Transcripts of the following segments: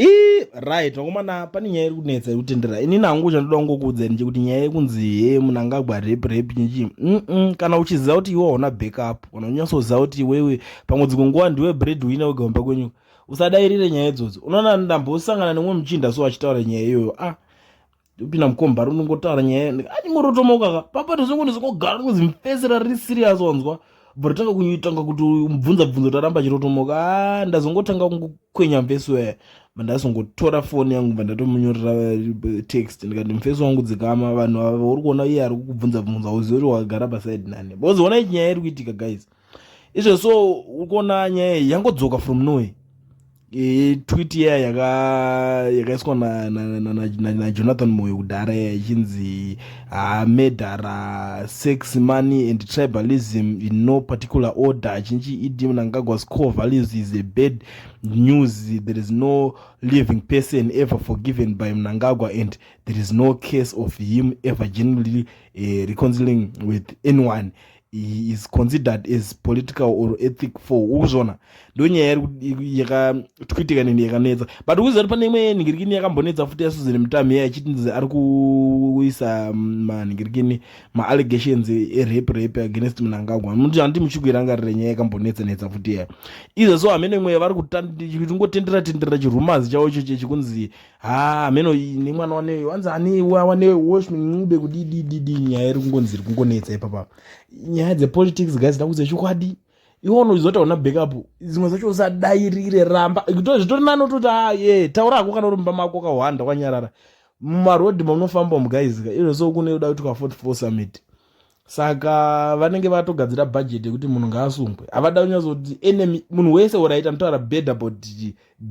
ii right vakomana pane nyaya iri kunetsa iri kutendera ini nangu chandoda kungokuudzai nje kuti nyaya yekunzi he munhu angagwa rep rep chinchii mm kana uchiziva kuti iwe hauna backup kana unyatsoziva kuti iwewe pamwe dzimwe nguva ndiwe bread wina wega kumba kwenyu usadairire nyaya idzodzo unoona ndambosangana nemwe muchinda so achitaura nyaya iyoyo ah ndopinda mukomba rinongotaura nyaya anyingorotomoka ka papa tozongondizongogara kunzi mfesera riri serious wanzwa but tanga kunyitanga kuti mubvunza bvunzo taramba chirotomoka a ah, ndazongotanga kungokwenya mfesi waya mandazongotora foni yangu bva ndatomunyorera eh, text ndikati mfesi wangu dzikama vanhu ava uri kuona iye ari kukubvunza bvunza uzive kuti wakagara pasaidi nani bozoona ichinyaya iri kuitika guys izvo so ukuona nyaya iyi yangodzoka from nowhere e, tweet iya yakaiswa yaka najonathan na, na, na moyo kudhara iya ichinzi ah, medhara sex money and tribalism in no particular order achinchi idi mnangagwa's core values is a bad news there is no living person ever forgiven by mnangagwa and there is no case of him ever generally uh, reconciling with anyone he is considered as political or ethic for ukuzviona ndonyaya yakatwitika nini yakanetsa but ukuziva kuti pane imwe nhingirikini yakambonetsa futi yasuzere mitamu iya achitinzi ari kuisa mm, manhingirikini maallegations erape rape against munangagwa muti handi muchikuirangarira nyaya yakambonetsa netsa futi iya izvo so hamene mweya vari kutingotendera tenderera chirumazi chavo ichocho chikunzi haa meno iyi nemwana waneyo wanzi anewa wanewe woshmi ncube kudidididi nyaya iri kungonzi iri kungonetsa ipapa nyaya dzepolitics guys ndakudze chokwadi iwe unozoita una backup dzimwe dzacho usadairire ramba zvitori nani utoti a ye taura hako kana uri mumba mako ukahwanda kwanyarara mumarodhi maunofamba mugaizika izvo so kune uda kuti kwa fort four summit saka vanenge vatogadzira bhajeti yekuti munhu ngaasungwe havada kunyazoti enemy munhu wese or aita mutaura bad about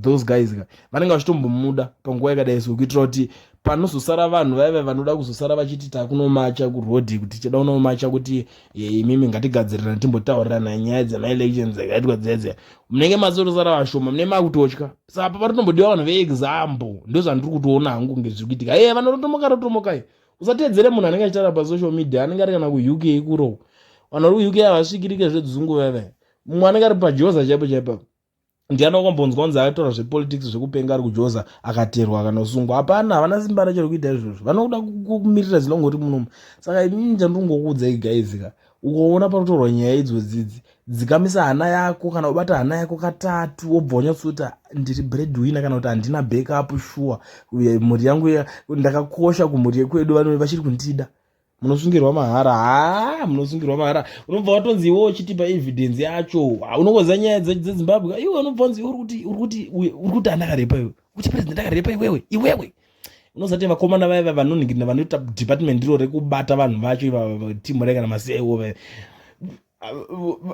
those guys ka vanenge vachitombomuda panguva yakadai so kuitira kuti panozosara vanhu vaiva vanoda kuzosara vachiti takunomacha kuroad kuti tichida kunomacha kuti imimi ngatigadzirirana timbotaurirana nyaya dzemaelection dzakaitwa dzedze munenge mazotosara vashoma mune makutotya sapa patotombodiwa vanhu veexample ndozvandiri kutoona hangu kunge zviri kuitika e vanototomoka rotomokai usatedzere munhu anenge achitaura pasocial media anenge ari kana kuuk kurow vanhu vari kuuk havasvikirike zvedzungu veve mumwe anenge ari pajoza chaipo chaipo ndiani wakambonzwa kunzi akataura zvepolitics zvekupenga ari kujoza akaterwa kana kusungwa hapana havana simba racho rekuita izvozvo vanoda kumirira zinongoti munomu saka ini ndandingokuudzai gaizika ukaona panotorwa nyaya idzo dzidzi dzikamisa hana yako kana ubata hana yako katatu wobva wanyatsoti ndiri breadwinner kana kuti handina backup shuwa mhuri yangu ndakakosha kumhuri yekwedu vanove vachiri kundida munosungirwa mahara haa munosungirwa mahara unobva watonzi iwo uchitipa evidence yacho unongoziva nyaya dzezimbabwe iwe unobva unzi uri kuti uri kuti uri kuti andakarepa iwe kuti president akarepa iwewe iwewe unozati vakomana vaya va vanonhingirina vanoita department iro rekubata vanhu vacho ivava timu rekana maseiwo vaya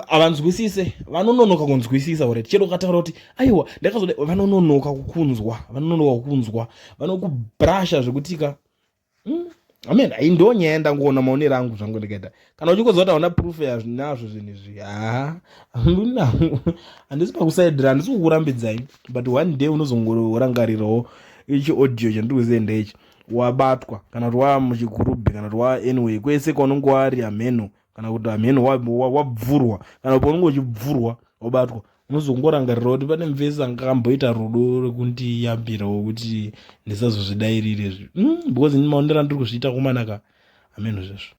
havanzwisise vanononoka kunzwisisa ore chero ukataura kuti aiwa ndakazoda vanononoka kukunzwa vanononoka kukunzwa vanokubrasha zvekutika hmm? amen ai ndo nyaya yandangoona maonero angu zvangu ndikaita kana uchikozoa taona proof yazvinazvo zvinhu izvi haa ndina handisi pakusaidira handisi kukurambidzai but one day unozongorangarirawo ichi audio chandiri kuzienda ichi wabatwa kana kuti waa muchigurubhi kana kuti waa anyway kwese kwaunenge wari hamheno kana kuti hamheno wabvurwa kana kuti paunenge uchibvurwa wabatwa unozongorangarira kuti pane mvese anga amboita rudo rekundiyambirawo kuti ndisazozvidairire zvi mm, because ini maonero andiri kuzviita komanaka hameno zvesvo